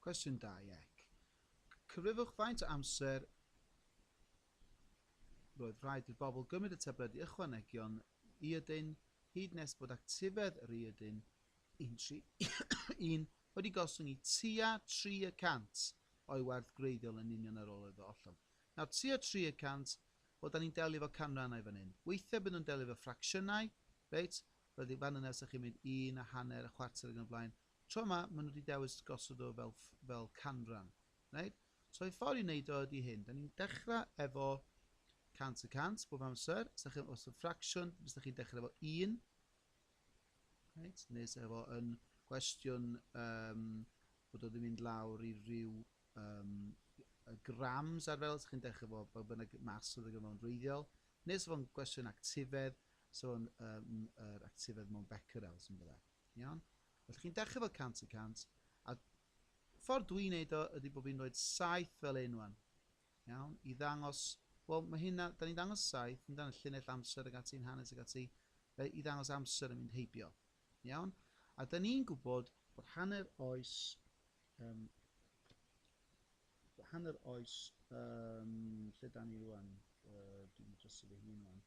Cwestiwn 21. Cyfrifwch faint o amser roedd rhaid i'r bobl gymryd y tabledi ychwanegion iodin hyd nes bod actifedd yr iodin 131 wedi gostwng i tua 3 y cant o'i werth gwreiddiol yn union ar ôl iddo ollwng. Nawr, tua 3 y cant, wel, da ni'n delio efo canrannau fan hyn. Weithiau byd nhw'n delio efo ffracsiynau, reit? Roedd i fan yna, os ydych chi'n mynd un a hanner, a chwarter ac yn y blaen, Tro ma, ma nhw di dewis gosod o fel fel canran. Reit? So y ffordd i wneud o ydi hyn. Da ni'n dechrau efo 100 y 100 bob amser. Os da chi'n os y ffracsiwn, os da chi'n dechrau efo 1. Reit? Neu os efo yn gwestiwn um, bod o ddim mynd lawr i ryw um, grams ar fel, os chi'n dechrau efo bod bynnag mas oedd y gyfnod yn reiddiol. Neu os efo'n gwestiwn actifedd, so yn um, er actifedd mewn becquerels yn byddai. Iawn? Felly chi'n dechrau fel 100 y 100, a ffordd dwi'n neud o ydy bod fi'n rhoi'r 7 fel un wan. Iawn? I ddangos, wel mae hynna, da ni'n ddangos 7, ni'n ddangos llinell amser ag ati'n hanes ag ati, i ddangos amser yn mynd heibio. Iawn? A da ni'n gwybod bod hanner oes um, hanner oes um, lle da ni rwan uh, dwi'n dros fy hun rwan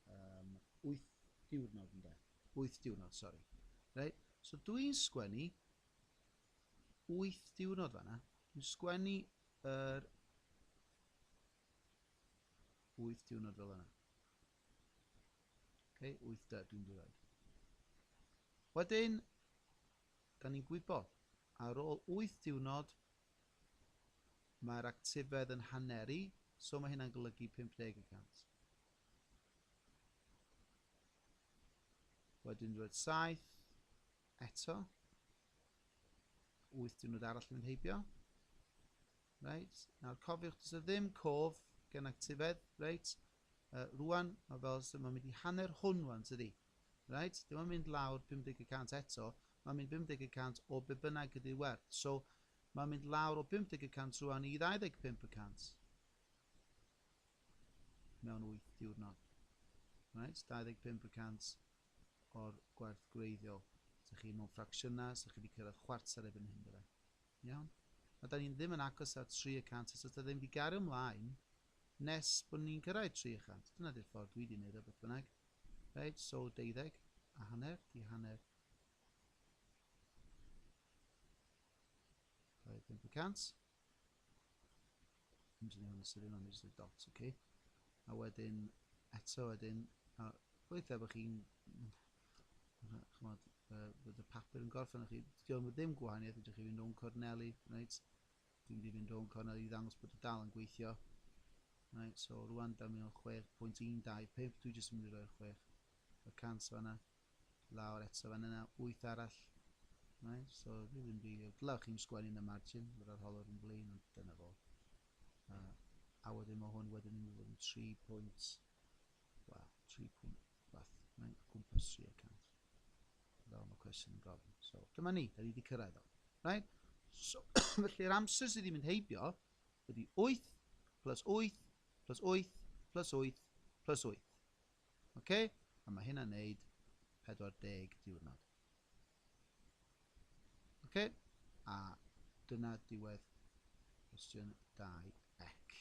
Yym, wyth diwrnod ynde? Wyth diwrnod, sori. Reit, so dwi'n sgwennu wyth diwrnod fanna. Dwi'n sgwennu yr wyth diwrnod fel yna. Okay, wyth da, dwi'n dweud. Wedyn, da ni'n gwybod, ar ôl wyth diwrnod, mae'r actifedd yn haneru, so mae hynna'n golygu 50 y cant. Wedyn roedd 7 eto. 8 diwrnod arall yn mynd heibio. Reit, nawr cofiwch, does e ddim cof gen actifedd, reit. Uh, rwan, mae fel sy'n mynd i hanner hwn rwan, tydi? Reit, dim ond mynd lawr 50 y cant eto, mae'n mynd 50 y cant o be bynnag ydy'r werth. So, mae'n mynd lawr o 50 y cant rwan i 25 y cant. mewn wyth diwrnod. Reit, 25 y cant o'r gwerth gwreiddiol. Sa chi mewn ffracsiynau, sa chi wedi cyrraedd chwarter erbyn hyn, dyle. Iawn? A da ni'n ddim yn agos at 3 y cant eto, da ddim wedi gario ymlaen nes bod ni'n cyrraedd 3 y cant. Dyna di'r ffordd dwi wedi gwneud o, beth bynnag. Reit, so 12 a hanner, di hanner 25 y cant. I'm just doing the sitting on just the dots, okay? A wedyn, eto wedyn, a weithiau bod chi'n, chymod, uh, bod y papur yn gorffen o'ch chi, diolch yn ddim gwahaniaeth, ydych chi'n mynd o'n corneli, right? Dwi'n mynd mynd o'n corneli i ddangos bod y dal yn gweithio. Right, so rwan da mi o'n 6.125, dwi jyst yn mynd i roi'r 6 y cans fanna. lawr eto fan yna, 8 arall. Right, so dwi ddim rili... Dylai chi'n sgwennu yn y margin, yr arholwr yn blaen, ond dyna fo. Uh, a wedyn mae hwn wedyn yn mynd yn 3 pwynt, wel, 3 pwynt, fath, mae'n cwmpas 3 y cant. Fel mae cwestiwn yn gofyn. So, dyma ni, da ni wedi cyrraedd o. Right? So, felly'r amser sydd wedi mynd heibio ydy 8 plus 8 plus 8 plus 8 plus 8. Ok, a mae hynna'n neud 40 diwrnod. Ok, a dyna diwedd cwestiwn 2 ec.